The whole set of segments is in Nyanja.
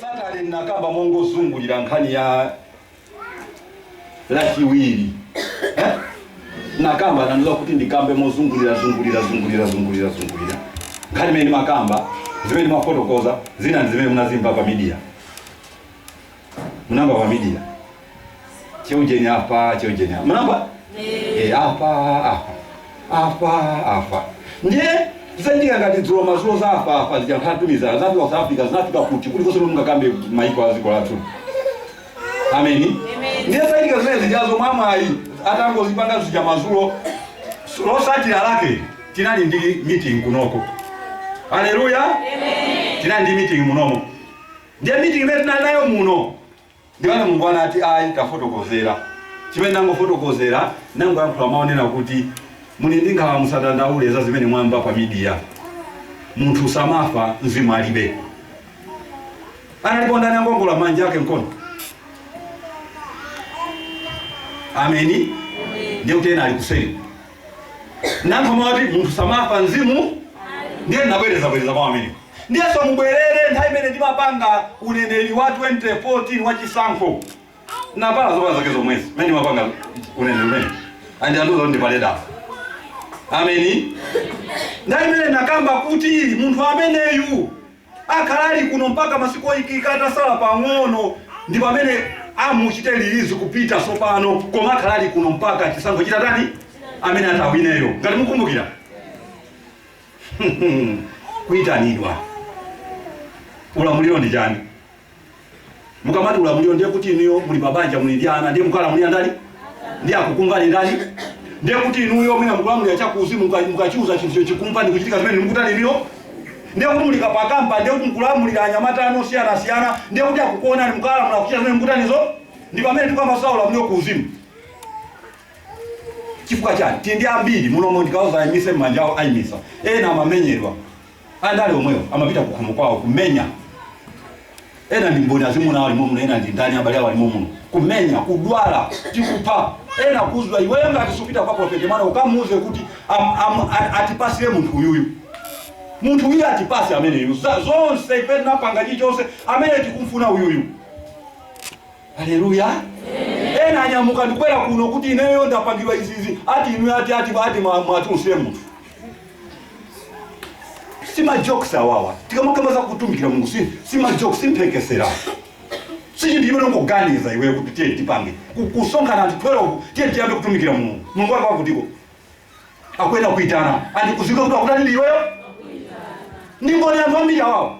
Satale ndinakamba mongozungulira nkhani ya lachiwiri eh? nakamba anandiuza kuti ndikambe mozungulira zungulira zungulira zungulira zungulira nkhani imene ndimakamba zimene ndimafotokoza zina ndi zimene munazimva pa media munamva pa media Cheujeni apa, cheujeni apa. Mnamva? Eh, apa, apa. Apa, apa. Ndiye zachitika ngati dzulo mazulo za apa apa zija anthu atumizana zinafika South Africa zinafika kuti kuli konse mungakambe maiko a dziko lathu. Ameni. Ndiye zachitika zimene zijazo mwamwayi atangozipanga zija mazulo so- losatira lake tinali ndi meeting kunoko. Haleluya. Tinali ndi meeting munomo. Ndiye meeting imene tinali nayo muno Ndiyeno Mulungu anati, Ayi, tafotokozera. Chimene nangofotokozera, nangoyankhula mawu onena kuti, Muli ndi nkhawa, musadandaule za zimene mwamva pa midiya. Munthu samafa, mzimu alibe. Analipo ndani angoongola manja ake mkono? Ameni. Ndiye kuti ena ali kuseri. nangomati munthu samafa mzimu ndiye ndinabwerezabwereza kwa ameni ndiyenso mubwerere nthawi imene ndimapanga uneneri wa 2014 wa chisankho navala zovala zake zomwezi mmene ndimapanga uneneri umene andi- andiuza kuti ndivale dala ameni nthawi imene nakamba kuti munthu ameneyu Akhala ali kuno mpaka masiku oyikika atasala pang'ono, ndi pamene amuchite release kupita tsopano, koma akhala ali kuno mpaka chisankho chitatani, amene atawineyo, ngati mukumbukira kuitanidwa. Ulamuliro ndi chani? Mukamati ulamuliro ndiye kuti inuyo muli mabanja muli ndi ana ndiye mukalamulira ndani? Ndiye akukumvani ndani? Ndiye kuti inuyo mwina mukulamulira chakuuzimu muka- mukachiuza chinthu cho- chikumva ndi kuchitika zimene mukutani inuyo. Ndiye kuti muli kapakamba ndiye kuti mukulamulira anyamata anu osiyanasiyana ndiye kuti akukuonani mukalamula kuchita zimene mukutanizo ndi pamene tikamba za ulamuliro kuuzimu. Chifukwa chani? Tili ndi ambiri munomo ndikauza ayimise manja awo ayimisa. Ena amamenyedwa. Andale omwewo amapita kukhomo kwawo kumenya. Ena ndi mboni azimuna awo ali momuno, ena ndi ndani abale awo ali momuno. Kumenya, kudwala, ndi kupha. Ena kuuzwa iweyo ngati supita kwa Prophet Emmanuel ukamuuze kuti am, am, a, atipasire munthu uyuyu. Munthu uyu atipase ameneyu. Za- Zonse ife tinapanga chichonse amene tikumfuna uyuyu. Aleluya! Ena anyamuka ndikubwera kuno kuti ineyo ndapangidwa izizi ati inu ati ati ati mwa- mwati usiye munthu si majokes awawa tikamakamba za kutumikira mulungu si, si majokes si mphekesera si chinthu chimene ungoganiza iweyo kuti tiye tipange Ku- kusonkhana anthu 12 tiye tiyambe kutumikira mulungu mulungu wake wakutiko akuyenera kuitana ndikuziwa kuti akutani ndi iweyo ndi mboni anthu ambiri awawa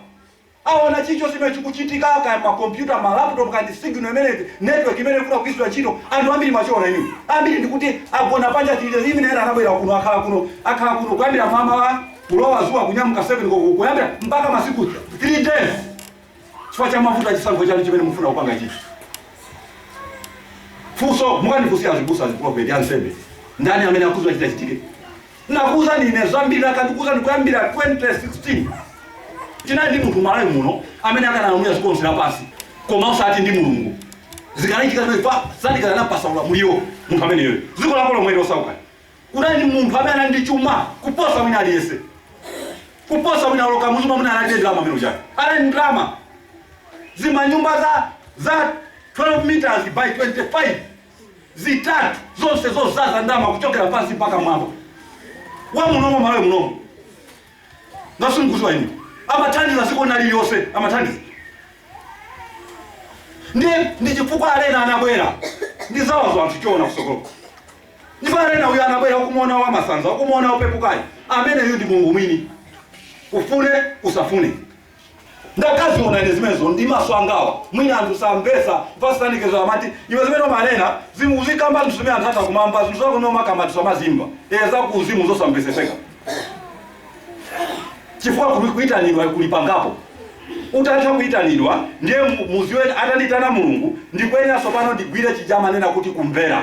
Aona chilichonse chimene chikuchitika kaya ma computer, ma laptop kaya ndi signal imene network imene ikufuna kugwiritsidwa ntchito. Anthu ambiri mwachiona inu. Ambiri ndikuti agona panja chilili even ena anabwera kuno akhala kuno akhala kuno kuyambira mamawa kulowa zuwa kunyamuka 7 koloko kuyambira mpaka masiku 3 days. Chifukwa cha mavuto a chisankho chanu chimene mufuna kupanga ichi. Funso mukandifunsia azibusa aziprophet ansembe ndani amene akudziwa chitachitike? Nakuuzani ine zambiri ndakhala ndikukuuzani kuyambira 2016 tinali ndi munthu mMalawi muno amene akanalamulira dziko lonse lapansi koma osati ndi mulungu zikanachitika zimenepa satana akanapatsa ulamuliro munthu ameneyo dziko lako lomwe losauka kunali ndi munthu amene anali ndi chuma kuposa wina aliyense kuposa wina oloka muzuma muna anali ndi ndalama amene uchake anali ndi ndalama zimanyumba za za 12 meters by 25 zitatu zonse zodzaza ndalama kuchokera pansi mpaka mmwamba wa munomo malawi munomo ngati simukudziwa inu amathandiza dziko lina lililonse amathandiza ndi ndi chifukwa Alena anabwera ndi zawazo anthu choona kusokolo ndipo Alena uyu anabwera ukumuona wamasanza ukumuona upepukayo ameneyu ndi mulungu mwini ufune usafune ndakadziona ine zimenezo ndi maso angawa mwina anthu samvetsa pasitanikizo amati iwe zimene umanenazi uzikamba zinthu zimene anthu atha kumamva zinthu zako zimene umakamba anthu samazimva ee za kuuzimu zosamvetsetseka chifukwa kuli- kuyitanidwa kuli pangapo utatha kuyitanidwa ndiye mu- mudziwe atanditana mulungu ndikuyenera tsopano ndigwire chija amanena kuti kumvera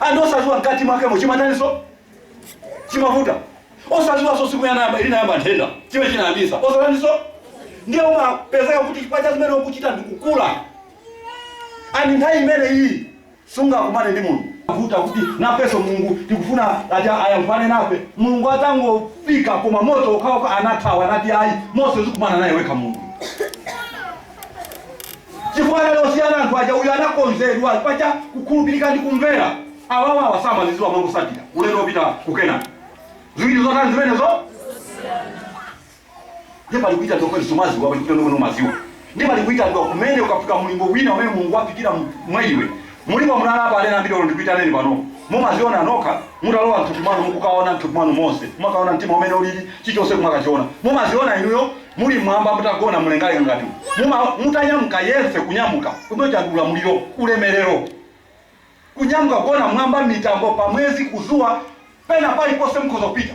anthu osadziwa mkati mwakemo chimatandinso chimavuta osadziwanso tsiku yanayamba linayamba nthenda chimene chinayambitsa osadziwanso ndiye umapezeka kuti chifukwa cha zimene ukuchita ndikukula ani nthawi imene iyi sungakumane ndi mulungu vuta kuti nafenso mulungu tikufuna ati ayankhulane nafe mulungu atangofika koma moto okhaoka anathawa anati ayi mose uzikumana naye wekha mulungu chifukwa anali osiyana anthu aja uyu anakonzedwa chifukwa cha kukhulupirika ndi kumvera awawawa samazidziwa amangotsatira ulendo wopita kukenani ziwiri zotani zimenezo ndiye pali kuitanidwa koti sumadziwa pali kuitanidwa kwina umadziwa ndiye pali kuitanidwa kumene ukafika mulingo wina umene mulungu wafikira mu- mwa iwe Mulipo muno apa aneneri ambiri olo ndikuitaneni panopo mumadziona nokha mutalowa mthupi mwanu mukukaona mthupi mwanu monse kumakaona mtima umene ulili chilichonse kumakachiona mumadziona inuyo muli mmwamba mutagona mlengalenga ngati umu muma mutanyamuka yense kunyamuka kumene kuja ndi ulamuliro ulemelero kunyamuka kugona mmwamba mmitambo pamwezi kuzuwa pena paliponse mukhoza kupita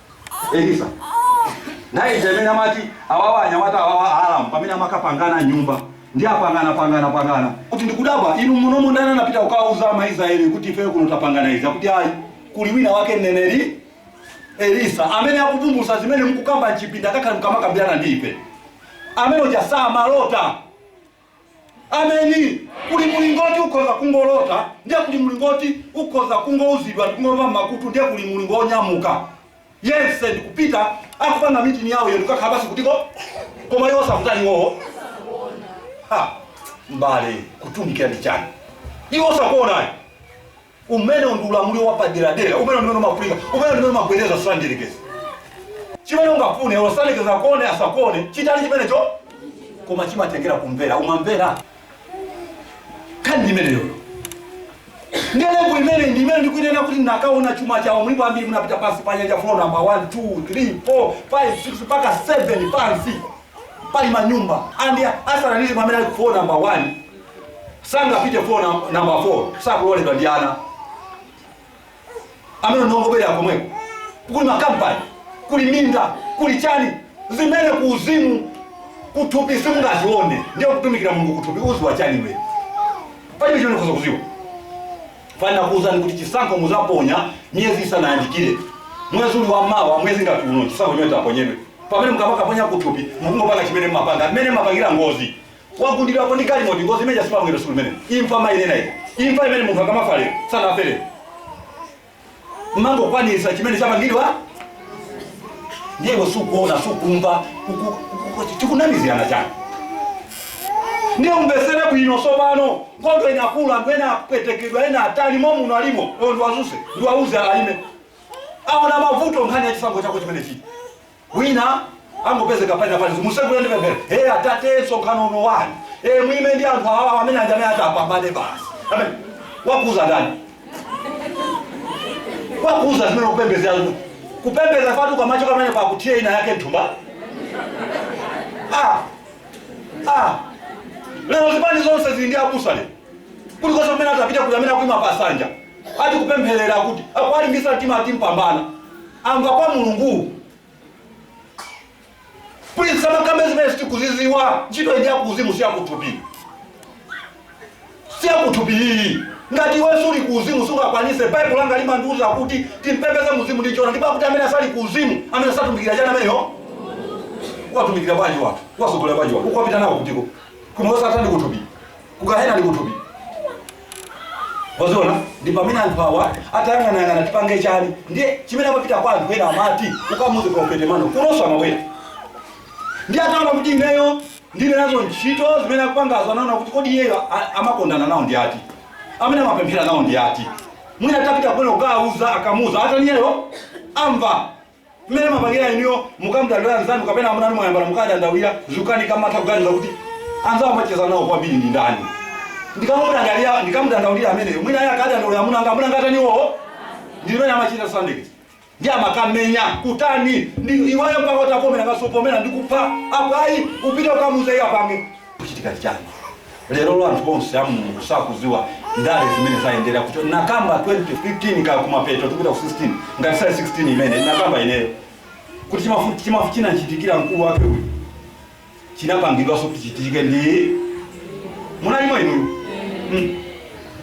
Elisa naye ija mmene amati awawa anyamata awawa a Aramu pamene amakapangana nyumba ndi apangana pangana pangana kuti ndikudabwa inu munomo ndani anapita kukawauza ama Israeli kuti ife kuno tapangana izi akuti ayi kuli wina wake mneneri Elisa amene akuvumbulutsa zimene mukukamba mchipinda akakhala mukamakambirana ndi ife amene uja samalota Ameni. Kuli mulingo oti ukhoza kungolota, ndiye kuli mulingo oti ukhoza kungouzidwa ndi kungomva m'makutu, ndiye kuli mulingo wonyamuka yense ndi kupita akupanga meeting yawo iyo ndikukakhala basi kutiko koma iwo sakutani iwowo ha mbale kutumikira ndi chani iwo sakuonayo Umenewo ndi ulamuliro wapaderadera. Umenewo ndi umene umafunika. Umenewo ndi umene umagwedeza Satana Mdyerekezi. Chimene ungafune, olo Satana akuone asakuone, chitani chimenecho, koma chimatengera kumvera. Umamvera? Nkhani ndi imeneyoyo. Ndiye level imene ndi imene ndikuinena kuti ndakaona chuma chawo mulipo ambiri munapita pansi pa nyanja floor number 1 2 3 4 5 6 mpaka 7 pansi pali manyumba andi asing'anga pamene ali floor number 1 sangapite floor number 4 sakuloledwa ndi ana amene ndongobwera komweko kuli makampani kuli minda kuli chani zimene ku uzimu kuthupi simungazione ndiye kutumikira mulungu kuthupi uziwa chani iwe palibe chimene ukhoza kuziwa fana kuuzani kuti chisankho muzaponya miyezi isanayandikire mwezi uli wa mawa mwezi ngati uno chisankho chimene taponyedwe pamene mukamakaponya kuthupi mukungopanga chimene mmapanga mmene mmapangira ngozi wagundidwapo ndi galimoto ngozi imeneija simabwera siku limenelo imfa mayenera iyi imfa imene munthu akamafa lero sanafe lero mmangokwanisa chimene chapangidwa ndiye sukuona sukumva uku- uku- uku- tikunamizirana chani ndiye umvesere bwino tsopano nkhondo inakula anthu ena apwetekedwa ena atali momuno alimo oyo ndiwadzutse ndiwauze alime aona mavuto nkhani ya chisankho chako chimene chili Wina angopezeka pena palizi musegule ndi pemphero. Hey atate msonkhano uno wani. Eh muime ndi anthu awawa amene aja amene atapambane basi. Amen. Wakuuza ndani? Wakuuza zimene kupembeza. Kupembeza fatu kwa macho kamene kwa kutia ina yake nthumba. Ah. Ah. Lero zipani zonse zili ndi abusa lero. kulikonse kumene atapita kuli amene akuima pa sanja ati kupempherera kuti akuwalimbisa mtima ati mpambana amva kwa mulungu please tisamakambe zimene sitikuziziwa ntchito ija kuuzimu siyakuthupi siyakuthupi iyi ngati iwe suli kuuzimu sungakwanise baibulo langa limandiuza kuti timpembeze mu mzimu ndi chona ndipo akuti amene asali kuuzimu amene satumikira chani ameneyo watumikira bwanji anthu wasogolera bwanji anthu ukupita nawo kutiko koma osatani kuthupi kugahena ndi kuthupi waziona ndi pamene anthu awa atayang'anayang'ana tipange chiyani ndiye chimene amapita kwa anthu ena amati ukamuze profete mano kunonso amabwera ndi ataona kuti ineyo ndili nazo ntchito zimene akupangazo anaona kuti kodi iyeyo a- amakondana nawo ndi ati amene amapemphera nawo ndi ati mwina atapita kumene kukawauza akamuza atani iyeyo amva mmene mmapangira inuyo mukamdandaulira anzanu kapena amuna anu mwayambana mukadandaulira zikakanika mmatha kuganiza kuti anzawo amacheza nawo kwambiri ndi ndani ndikamudandaulira ndikamudandaulira ameneyo mwina iye akadandaulira amuna anga amuna anga atani iwowo ndi zimene amachita sandikiti ndi amakamenya kutani ndi iweyo mpaka utapomera kasopomera ndi kupha apo ayi upite ukamuuze iye apange kuchitika chani lero lo anthu onse a mulungu sakuziwa ndale zimene zayendera kuchoka ndakamba 2015 cha kumapeto tikupita ku 16 ngati sali 16 imene ndakamba ineyo kuti chimafu- chimafu chinachitikira mkulu wake uyu chinapangidwanso kuti chichitike ndi munalimo inuyo Mm.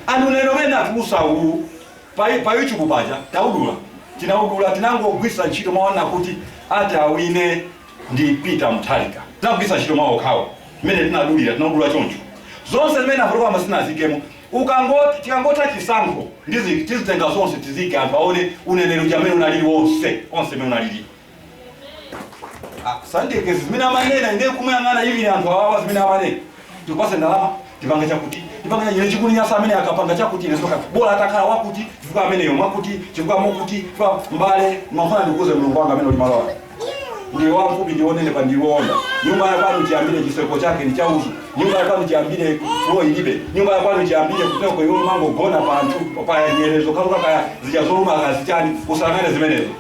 anthu lero mene atulusa uwu pa pa youtube paja tinaudula tinaudula tinangogwisa ntchito mau oti ati awine ndi Peter Mutharika tinagwiritsa ntchito mau okhawo mmene tinaudulira tinaudula choncho zonse mmene afotokoza koma sitinaziikemo tikangoti chikangotha chisankho ndizi tizitenga zonse tiziike anthu aone uneneri uja mmene unalili wonse onse mmene unalili Ah, sandike zimene amanena ine kumuyang'ana ndiye anthu awawa zimene amanena tipase ndalama tipange chakuti tipange chakuti ine chikundinyasa amene akapanga chakuti ine soka bora atakhala wakuti chifukwa ameneyo mwakuti chifukwa mokuti chifukwa mbale mafuna ndikuuze mulungu wanga amene ulimalowa ndiye wamfupi ndi wonenepa ndi woonda nyumba ya kwanu chiyambire chiseko chake ndi chauzu nyumba ya kwanu chiyambire floor ilibe nyumba ya kwanu chiyambire kuteroko iwo amangogona pa anthu pa nyerezo kaluka kaya zija zoluma kaya zichani usanene zimenezo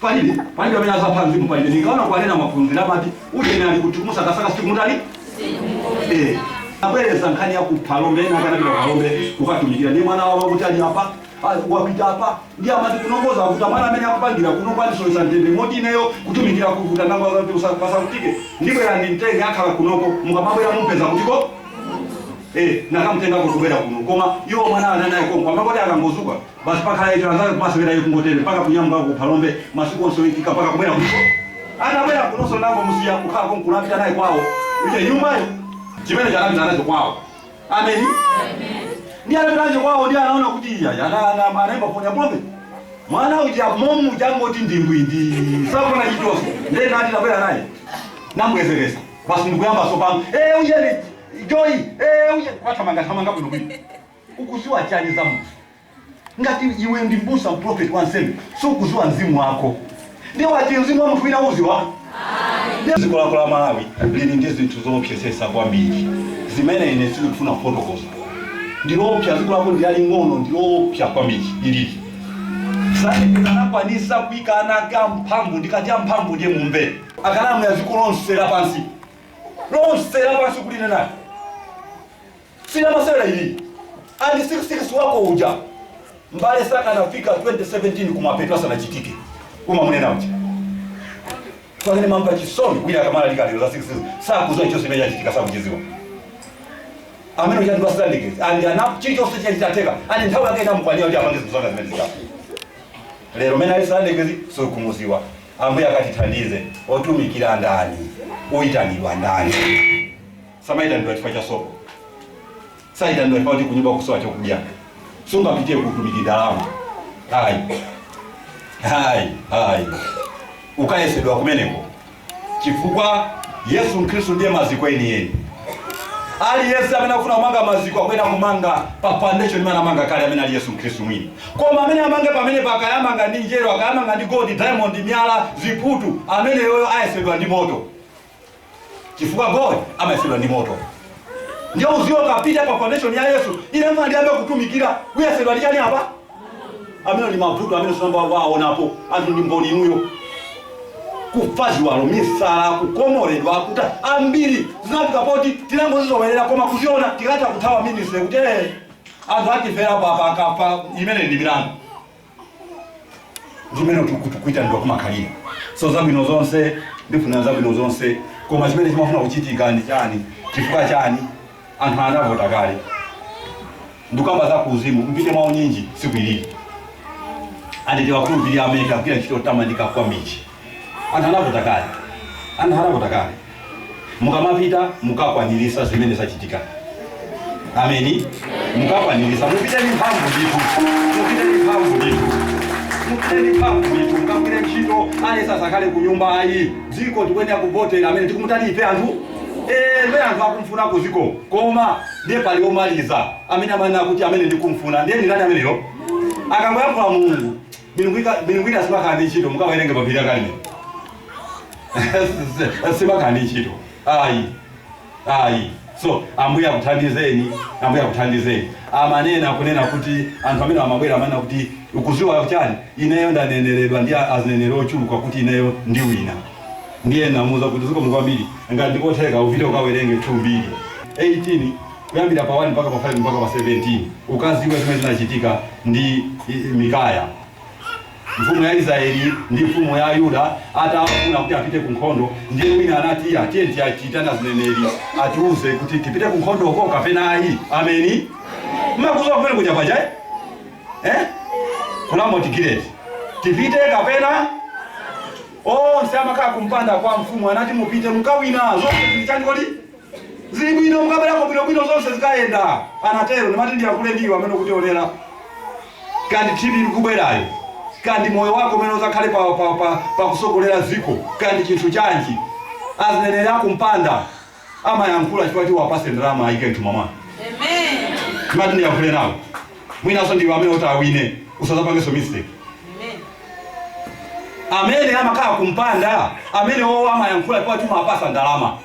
Palibe, palibe amene azapha mzimu palibe. Ndinkaona kuwanena maphunzira amati ujeni ali kuti kumusakasaka sikuli kutali? Eh. Abwereza nkhani ya ku Phalombe ena akanapita ku Phalombe kukatumikira ndi mwana wawo kuti ali apa ah, wapita apa ndi amati kunongoza kuti mwana amene akupangira kuno kwandisowesa mtende moti ineyo kutumikira kuvuta nangowauza kuti musavutike ndibwera ndimtenge akhale kunoko mukamabwera mumpeza kutiko eh nakamtengako kubwera kuno koma iwo mwana ananaye konko amangoti akangodzuka Basi wakhala icho anzake kumasewera iye kungotero, mpaka kunyamuka uko ku Phalombe, masiku onse oikika, mpaka kubwera kuno. Atabwera kunonso ndinangomusiya kukhala konkuno, apita naye kwawo, uja nyumbayo, chimenecho anapita nacho kwawo. Ameni. Ndiye anapita nacho kwawo, ndiye anaona kuti iya ana ana anaimba phone ya pompo. Mwana uja momuja wangoti ndwii. Sakuona chilichonse. Ndiye ndinati tabwera naye. Namubwezeresa. Basi ndikuyamba sopano. Eh ujeni. Joy. Eh ujeni. Wathamanga thamanga bwino bwino. Ukuziwa chani za Mulungu ngati iwe ndi mbusa mprofeti wansembe sukuziwa mzimu wako ndiye wati mzimu wa munthu wina uziwa ayi dziko lako la malawi lili ndi zinthu zoopsesesa kwambiri zimene ine sindikufuna kufotokoza ndiloopsa dziko lako ndilaling'ono ndiloopsa kwambiri ilili Satana anakwanisa kuika ana ake amphamvu ndikati amphamvu ndiye mumve akanalamulira dziko lonse lapansi lonse lapansi kuli nayo Si lamasewera ili and six six wako uja mbale sakanafika 2017 kumapeto asanachitike umamunena uja pamene ndimamva chisoni wina akamalalika lero la six six sakuziwa chonse chimene chachitika sakuchiziwa amene uchati basilandikezi and ana chilichonse chachitika and nthawi yake inamukwanira kuti apange zinthu zanga zimene zikapo lero mene alisalandikezi sukumuziwa ambuye akatithandize otumikira ndani oyitanidwa ndani Samaitanidwa chifukwa cha sopo. Saitanidwa chifukwa choti kunyumba kukusowa chokudya. Sungapitie ku utumiki ndalama. Ayi. Ayi, ayi. Ukayesedwa kumeneko. Chifukwa Yesu Khristu ndiye maziko enieni. Aliyense amene akufuna kumanga maziko akuyenera kumanga pa foundation imene anamanga kale amene ali Yesu Khristu mwini. Koma amene amange pamenepa kaya amanga ndi njerwa, kaya amanga ndi gold, diamond, miyala, ziputu, ameneyoyo ayesedwa ndi moto. chifukwa gold amayesedwa ndi moto ndiye uziwe ukapita pa foundation ya yesu ine mwina ndiyambe kutumikira uyesedwa ndi chani apa amenewa ndi mavuto amene simunayambe mwaonapo anthu ndi mboni inuyo kufa ziwalo misala kukomoledwa kwa anthu ambiri zinafika poti tinangozizowerera koma kuziona tikadatha kuthawa minisitiri kuti "Eh, anthu atiferapo apa akafa imeneyi ndi milandu ndi mmene kuitanidwa kumakhalira so zabwino zonse ndifuna zabwino zonse koma chimene chimafuna kuchitika ndi chani chifukwa chani anthu anavota kale ndikukamba za kuuzimu mupite mwa unyinji siku ilili andi tiwakhulupirira amene akugwira ntchito yotamandika kwambiri anthu anavota kale anthu anavota kale mukamapita mukakwanirisa zimene zachitika ameni mukakwanirisa mupite ndi mphamvu ndithu mupite ndi mphamvu ndithu mupite ndi mphamvu ndithu mukagwire ntchito aliyense asakhale ku nyumba ayi chifukwa tikuyenera kuvotera amene tikumutani ife anthu Eh, amene anthu akumfuna ku dziko koma ndiye pali omaliza amene amanena kuti amene ndikumfuna ndiye ndi ndani ameneyo akangoyankhula mulungu Milungu ika milungu ina simakhala ndi ntchito mukawerenge pa phiri la Karimeli. simakhala ndi ntchito. Ayi. Ayi. So Ambuye akuthandizeni, Ambuye akuthandizeni. Amanena kunena kuti anthu amene amabwera amanena kuti ukuziwa chani? Ineyo ndaneneredwa ndi a- azineneri ochuluka kuti ineyo ndiwina. Ndiye namuza kuti zikomo kwambiri ngati ndikotheka upite ukawerenge 2 mbiri 18 kuyambira pa 1 mpaka pa 5 mpaka pa 17, ukaziwe zimene zinachitika ndi Mikaya mfumu ya Israeli ndi mfumu ya Yuda atafuna kuti apite ku nkhondo, ndiye wina anati iya tiye tikaitane azineneri atiuze kuti tipite ku nkhondo uko kapena ayi. Ameni, mmakuziwa kumene kuja paja eh? eh? ku Ramoti Gileadi tipite kapena onse amakhala kumpanda kwa mfumu anati mupite mukawina zonse zili chani kodi Zili bwino mukabwerako bwinobwino zonse zikayenda, anatero. Ndimati ndiyankhule ndi iwe amene ukutionera. Kaya ndi tv ikubwerayo, kaya ndi moyo wako umene uzakhale pa, pa, pa, pa kusogolera dziko, kaya ndi chinthu chanji, azineneri akumpanda amayankhula chifukwa choti uwapase ndalama ayike mthumba mwawo. Ndimati ndiyankhule nawo. mwinanso ndiwe amene uti awine usazapangenso mistake amene amakhala kumpanda amene owo amayankhula kwa chuma apasa ndalama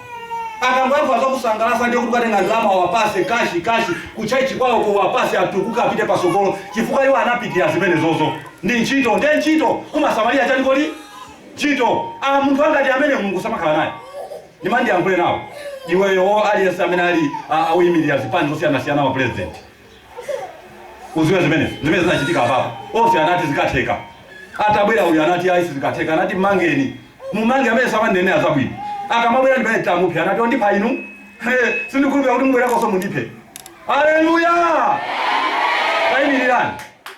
akangoyankhula zokusangalasa ndiye kuti ukatenga ndalama wapase kashi kashi kuchalichi kwawo ukawapase atukuke apite pasogolo chifukwa iwo anapitira zimenezozo ndi ntchito nde ntchito kumasamalira chani kodi ntchito ah, munthu angati amene mulungu samakhala naye ndimati ndiyankhule nawo iweyo aliyense amene ali ah, akuyimirira zipani zosiyanasiyana wa president uziwe zimene zimene zinachitika apapo onse anati zikatheka atabwera uyu anati ayi sizikatheka anati mmangeni mummange amene samandinenera zabwino akamabwera ndi pamene tamuphe anati ondipha inu He, sindikhulupira kuti mubwerakonso mundiphe aleluya tayimirirani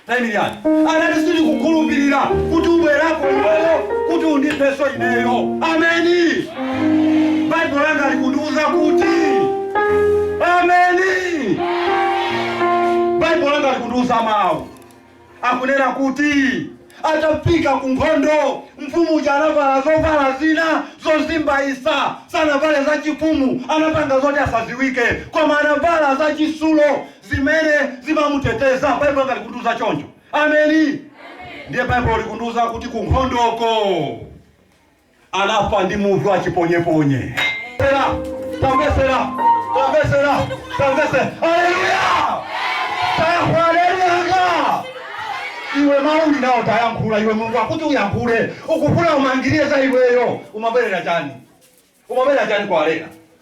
Tayimirirani. Anati sindikukhulupirira kuti ubwerako iweyo kuti undipheso ineyo. Ameni. Baibulo langa likundiuza kuti ameni. Baibulo langa likundiuza mawu akunena kuti Atafika ku nkhondo, mfumu uja anavala zovala zina zozimbayisa. Sanavale zachifumu, anapanga zoti asaziwike. Koma anavala zachisulo zimene zimamuteteza. Baibulo langa likundiuza choncho. Ameni. Ndiye Baibulo likundiuza kuti ku nkhondoko. anafa ndi muvi wa chiponyeponye. Pera, tamvesera, tamvesera, tamvese. Haleluya! Tayankha haleluya anga. Iwe mawu uli nawo tayankhula iwe Mulungu akuti uyankhule. Ukufuna umangirire za iweyo. Umabwerera chani? Umabwerera chani kwa Arena?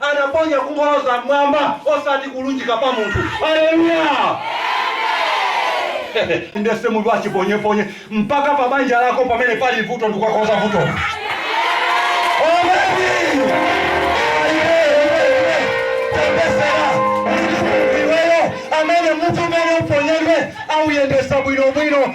Anaponya kungoloza m'mwamba osati kulunjika pa munthu. Aleluya! Inde si muvi wa chiponyeponye mpaka pa banja lako pamene pali vuto ndikukakonza vutolo. Ameni. Amen, amen, amen. Tamvesera munthu iweyo amene muvi umene uponyedwe auyendesa bwinobwino